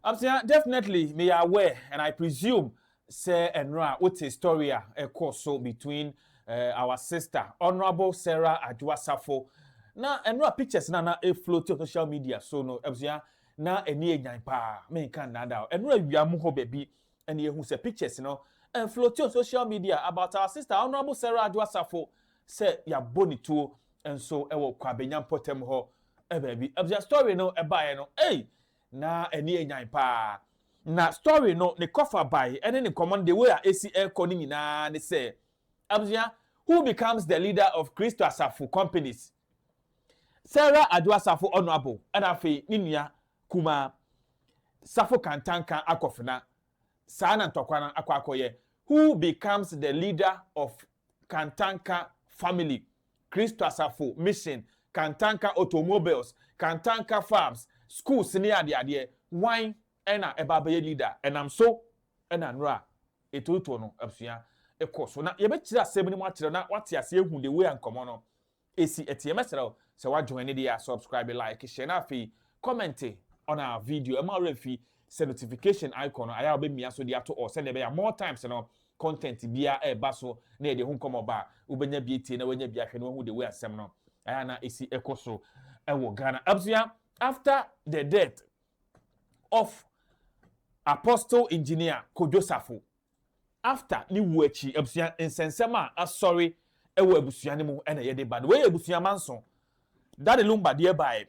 abusua definitely me yɛ aware and i presume sɛ ɛno a wote story a ɛkɔ so between uh, our sister honourable sarah adwoasafo na ɛno a pictures na na efloat on social media so no abusua na ɛni enyan paa menka nnada ɛno awia mu hɔ baabi And yɛhu sɛ pictures no ɛnfloati on social media about our sister Honourable Sarah Adwo Asafo sɛ yɛabɔ ne tuo nso wɔ Kwabenya mpɔtam hɔ baabi. Abusua story no ɛbaeɛ no, ei! Na ani yɛ nyan paa. Na story no ne kɔfa bae ɛne ne nkɔmmɔ no the way a ɛsi ɛrekɔ no nyinaa ne sɛ, Abusua, who becomes the leader of Kristo Asafo companies? Sarah Addo Asafo Onuabow ɛna afei ne nua kumaa Safo Kantanka Akofena saa na ntɔkwa no akɔ akɔyɛ who becomes the leader of Kantanka family Kristo Asafo Mission Kantanka Automobiles Kantanka Farms schools ne adeadeɛ wan Ɛna ɛba bɛyɛ leader a, ɛnam so na nnuro a ɛtotoɔ no abusua kɔ so. Na yɛbɛkyerɛ asɛm no mu akyerɛ wo na woate aseɛ ahu the way a nkɔmmɔ no si teɛ. Mɛsrɛ wo sɛ woajoine deɛ a, subscribe, like, share, na afei comment on our video. Mma wo werɛ mfi sɛ notification icon no, ayɛ a wobɛmia so de ato all sɛdeɛ ɛbɛyɛ a more times no content biara a ɛba so na yɛde ho nkɔmmɔ ba a, wobɛnya bi atie na woanya bi ahwɛ na woahu the way a nsɛm no ayɛ a na ɛsi kɔ so wɔ Ghana. Abusua, after the death of Apostle Engineer Kojo Sarfo after ne wuo akyi abusua nsɛnsɛm a asɔre wɔ abusua no mu na yɛde ba no wei yɛ abusua manso Daddy Lumba deɛ baeɛ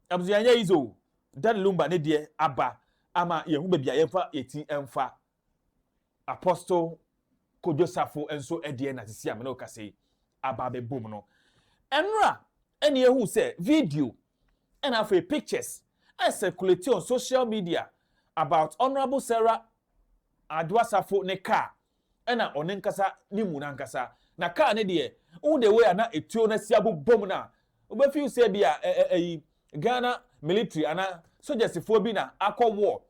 abusua nyɛ yizo Daddy Lumba ne deɛ aba ama yɛn ho baabi a yɛmfa yɛn ti mfa Apostle Kojo Safo nso deɛ na sisi a me ne wo kasa yi aba abɛbom no, ɛnora na yɛhu sɛ video ɛna afei pictures a circulate on social media about Honourable Sarah Adwoa Safo ne car ɛna ɔne nkasa ne mu nankasa na car ne deɛ wohu the way a na etuo no asi abobom no a wobɛfeel sɛ bi a ɛyi Ghana military ana sogyasifoɔ bi na akɔ war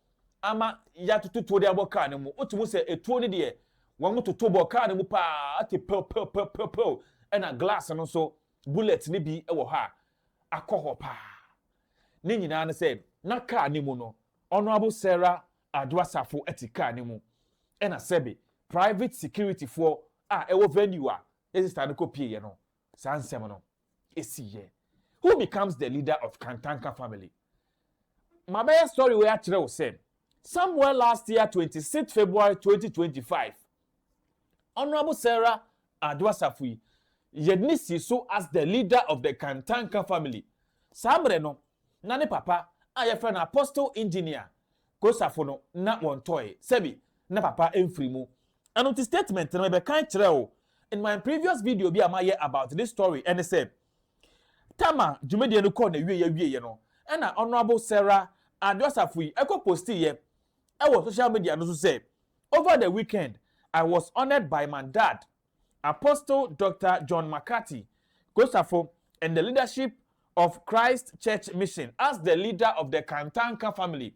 ama yɛatoto tuo de abɔ kaa no mu. Wote mu sɛ etuo no deɛ wɔtoto bɔ kaa no mu paa te pɛwpɛwpɛwpɛw ɛna glass no nso bullet no bi wɔ hɔ a akɔ hɔ paa. Ne nyinaa ne sɛ na kaa no mu no Honourable Sarah Addo Asafo te kaa no mu ɛna sɛbe private securityfoɔ a ɛwɔ venue a yɛn sister no kɔpieeɛ no saa nsɛm no esi yɛ. Who becomes the leader of Kantanka family? Ma bɛyɛ story wei akyerɛ wo sɛ somewhere last year twenty six February twenty twenty five Honourable Sarah Ado Asafo yi yɛ ne si so as the leader of the Kantanka family. Saa mmerɛ no na ne papa a yɛfrɛ no Apostle Engineer Kosafo no na wɔntɔe sɛbi na papa mfiri mu Ɛno nti statement no mebɛkan kyerɛ wo in my previous video bi a mayɛ about this story ɛne sɛ Tama dwumadie no kɔɔ n'awieɛ awieɛ no ɛna Honourable Sarah Ado Asafoyi ɛkɔ postiiɛ ɛwɔ social media no so sɛ over the weekend I was honoured by my dad Apostle Doctor John McCarthy Kosafo and the leadership of Christ Church Mission as the leader of the Kantanka family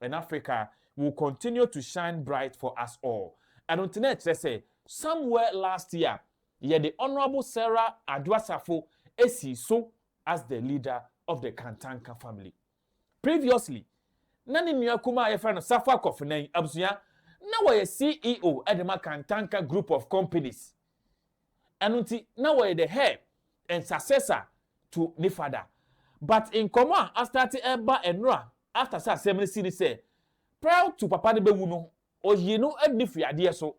And Africa will continue to shine bright for us all. Ɛno nti na ɛkyerɛ sɛ somewhere last year yɛde Honourable Sarah Adwoasafo esi so as the leader of the Kantanka family. Previously, na ne nua kumaa a yɛfrɛ no Safo Akɔfenan abusua na wɔyɛ CEO de ma Kantanka group of companies. ɛno nti na wɔyɛ dɛ hɛ and successor to ne fada but nkɔmɔ a astarte ɛba ɛnora after sɛ asɛm no si ne sɛ prior to papa no bɛwu no ɔyii no ɛde no firi adeɛ so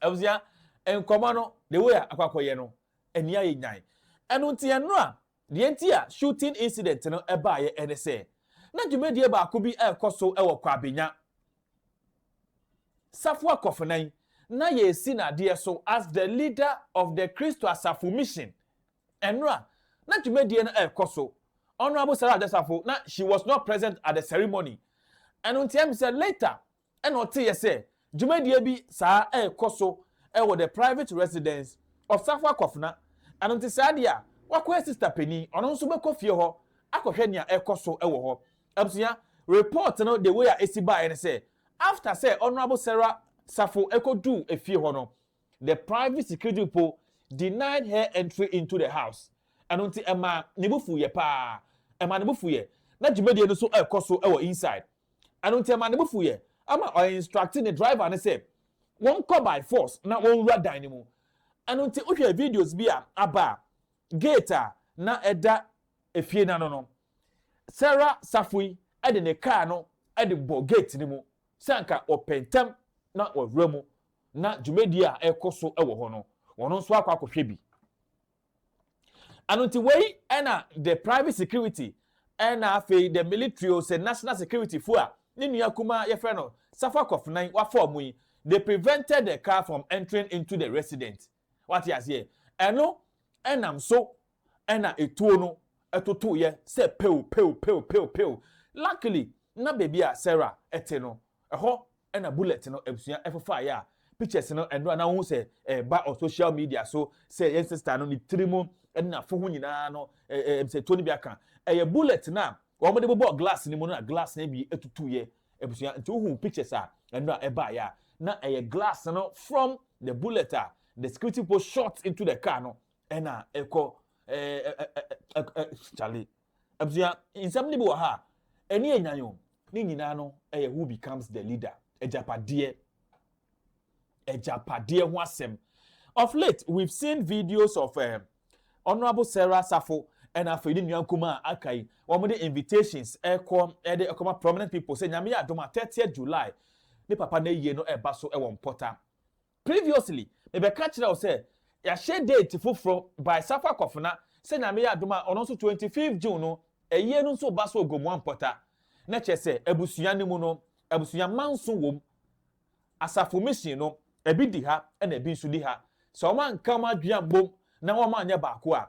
abusua nkɔmɔ no the way a akɔ akɔyɛ no ɛni ayɛ nyan ɛno nti ɛnora Deɛ nti a shooting incident no baeɛ ne sɛ, na dwumadie baako bi rekɔ so wɔ Kwabenya, Safua Kɔfenan, na yɛresi no adeɛ so as the leader of the Kristo Asafo Mission. Ɛno a na dwumadie no rekɔ so. Honourable Sarah Adasafo, na she was not present at the ceremony. Ɛno nti ɛm sɛ later Ɛnna ɔteeɛ sɛ dwumadie bi saa rekɔ so wɔ the private residence of Safo Akofena, ɛno nti saa deɛ a wakɔyɛ sista panin, ɔno nso bɛkɔ fie hɔ akɔhwɛ nea ɛrekɔ so wɔ hɔ. Abusua, report no the way a ɛsi baeɛ ne sɛ, after sɛ Honourable Sarah Safo kɔduu efie hɔ no, the private security people denied her entry into the house, ɛno nti ɛmaa ne bo fuiɛ paa, ɛmaa ne bo fuiɛ, na dwumadie no nso rekɔ so wɔ inside. Ɛno nti ɛmaa ne bo fuiɛ ɛma ɔ instructe ne driver no sɛ wɔnkɔ by force na wɔnwura dan no mu. Ɛno nti wohwɛ videos bi a aba a, gate a na ɛda efie no ano no, Sarah Safui de ne car no de bɔ gate no mu sɛ anka ɔpɛ ntɛm na wawura mu na dwumadie a ɛrekɔ so wɔ hɔ no, ɔno nso akɔ akɔhwɛ bi. Ɛno nti wei na the private security ɛna afei the military o sɛ national security fo a ne nua kumaa yɛfrɛ no Safa Kɔfenan wafa ɔmo yi they prevented the car from entering into the resident wate aseɛ ɛno ɛnam so ɛna etuo no ɛtotoeɛ sɛ pew pew pew pew pew luckily na baabi a Sarah ɛte no ɛhɔ na bullet no abusua ɛfofaa yɛ a pictures no ɛno a na wohu sɛ ɛba ɔ social media so sɛ yɛn sister no ne tiri mu ɛne n'afo ho nyinaa no ɛɛ sɛ tuo no bi aka ɛyɛ bullet no a wɔn de bobɔ glass no mu no na glass no bi atutu yɛ abusua nti wohu pictures a ɛno a ɛbaa yɛ a na ɛyɛ glass no from the bullet a the security people shot into the car no ɛna ɛkɔ ɛɛ ɛɛ ɛɛ ɛɛ Charlie. Abusua, nsɛm no bi wɔ ha a, ani yɛ nyan o. Ne nyinaa no yɛ who becomes the leader, agyapadeɛ, agyapadeɛ ho asɛm. Of late, we've seen videos of uh, Honorable Sarah Safo ɛna afei ne nua nkuma a aka yi wɔn de invitations ɛkɔ ɛde ɛkɔma prominent people sɛ nyame yɛ adom a 30 July ne papa na yie no ɛba so ɛwɔ mpɔta Previously mebɛka kyerɛɛ wo sɛ yɛahyɛ date foforɔ by Safo Akofena sɛ Nyame yɛ adom a ɔno nso twenty fifth June no ayie no nso reba so wɔ Gomoa Mpɔta na kyerɛ sɛ abusua no mu no abusua manso wɔ mu Asafo Mission no ɛbi di ha ɛna ɛbi nso di ha sɛ wɔn anka wɔn adwene ammɔ mu na wɔn anyɛ baako a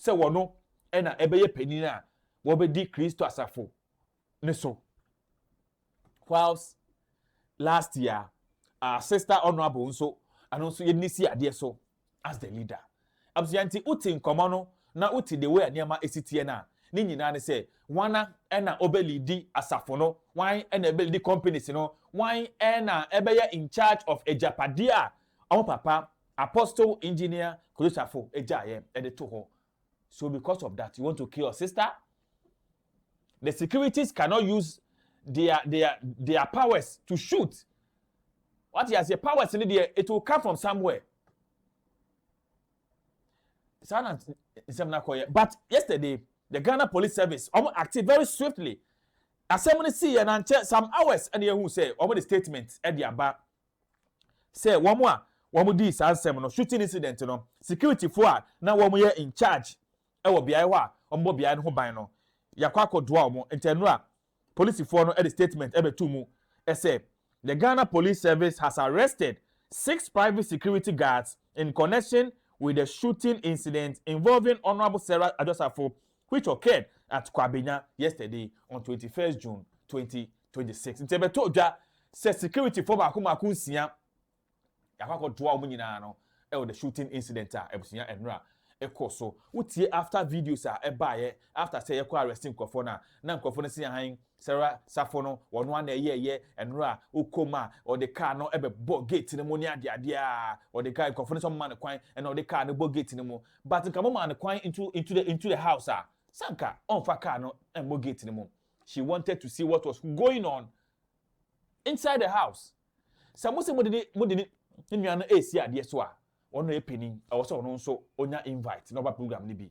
sɛ wɔno na ɛbɛyɛ panin a wɔbɛdi Kristo asafo no so. Whilst last year, our sister honourable nso ano nso yɛde ne si adeɛ so as the leader. Abusua nti wote nkɔmmɔ no na wote the way a nneɛma ɛsi teɛ no a, ne nyinaa ne sɛ wana ɛna ɔbɛlidi asafo no, wan ɛna ɛbɛlidi companies no, wan ɛna ɛbɛyɛ in charge of agyapadeɛ a wɔn papa Apostle engineer Kristafo gyaeɛ de to hɔ so because of that you want to kill your sister? The securities cannot use their their their powers to shoot. What you say powers ni deɛ it will come from somewhere. Saa na nsɛm na kɔyɛ but yesterday the Ghana Police Service wɔn acted very swiftly. Asɛm no si yɛ na nkyɛ some hours ɛna ehu sɛ wɔn de statement ɛde aba. sɛ wɔn a wɔdii saa nsɛm no, shooting incident no, securityfo a na wɔyɛ in charge wɔ beae hɔ a wɔbɔ beae no ho ban no, yɛakɔ akɔdoa wɔn. Ntɛnura polisifoɔ no de statement bɛtoo mu sɛ, The Ghana Police Service has arrested six private security guards in connection with the shooting incident involving Honourable Sarah Adjosafo which occurred at Kwabenya yesterday on twenty first June twenty twenty six nti ɛbɛtɔ dwa sɛ security fo baako baako nsia yɛakɔ akɔtoa wɔn nyinaa no ɛwɔ the shooting incident a abusua ɛnora ɛkɔ so wotie after videos a ɛbaeɛ after sɛ yɛkɔ arrest nkurɔfoɔ no a na nkurɔfoɔ no si ahan sɛra safo no wɔn ano ɛyɛɛyɛ ɛnora a wokɔ mu a ɔde kaa no ɛbɛbɔ gate no mu ne adeadeɛ a ɔde kaa nkurɔfoɔ no sɛ ɔma no kwan ɛna ɔde kaa no bɔ gate no mu but nka mo ma no kwan into into the into the house a sanka ɔnfa kaa no ɛmmɔ gate no mu She wanted to see what was going on inside the house. Sɛ mo sɛ mo de ne mo de ne nua no esi adeɛ so a, wɔn na yɛ panin. Ɛwɔ sɛ ɔno nso onya invite na ɔba program no bi.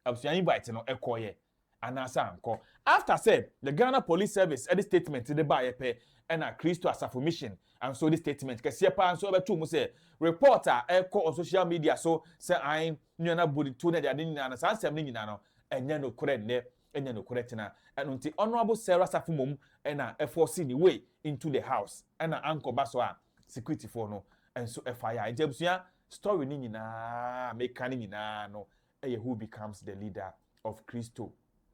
Abusua invite no ɛkɔ yɛ anaasɛ ankɔ. After sɛ the Ghana Police Service ɛde statement de baayɛ pɛ, ɛna Kristo Asafo Mission nso de statement kɛseɛ paa nso ɛbɛtoo mu sɛ report a ɛkɔ on social media so sɛ an nua no abu ne to ne adeade nyinaa no saa nsɛm no nyinaa no ɛnyɛ nokorɛ nnɛ. ɛnyɛ nokorɛ tena ɛno nti honourable Sarah Safo mom na ɛforce ne way into the house ɛna ankɔ ba so a security foɔ no nso ɛfa ya nti abusua story no nyinaa meka no nyinaa no ɛyɛ who becomes the leader of Christo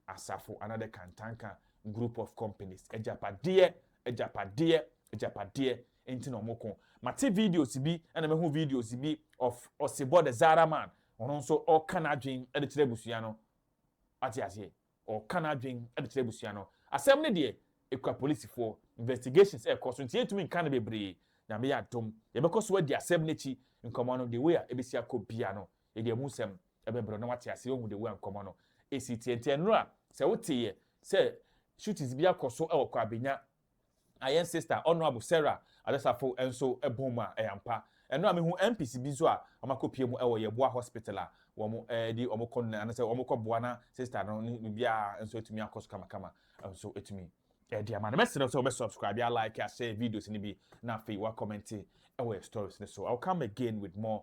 Asafo another Kantanka group of companies agyapadeɛ agyapadeɛ agyapadeɛ nti na wɔn ko mate videos bi ɛna mehu videos bi of Osibɔ the Zara man ɔno nso ɔka n'adwene ɛde kyerɛ abusua no Wate aseɛ? Ɔreka n'adwene de kyerɛ abusua no. Asɛm no deɛ, ɛkura polisifoɔ. Investigations rekɔ so, nti yɛntumi nka no bebree. Nyame yɛ adom, yɛbɛkɔ so adi asɛm no akyi. Nkɔmmɔ no, the way a ɛbɛsi akɔ biara no, yɛde amu nsɛm bɛbrɛ wo na woate aseɛ, woahu the way a nkɔmmɔ no si teɛ. Nti ɛnnora, sɛ woteeɛ sɛ shootings bi akɔ so wɔ Kwabenya Na yɛn sister Honourable Sarah Adasafo nso bɔɔ mu a ɛyɛ ampa. Ɛno a mehu MPs bi nso a wɔakɔpue mu wɔ Yɛboa Hospital a wɔde wɔn kɔ no anaasɛ wɔkɔboa na sister no ne biribiara nso atumi akɔ so kamakama nso atumi de ama no. Mɛsrɛ sɛ wobɛ subscribe, alike, ashare videos no bi na afei woacommente wɔ yɛn stories no so. I will come again with more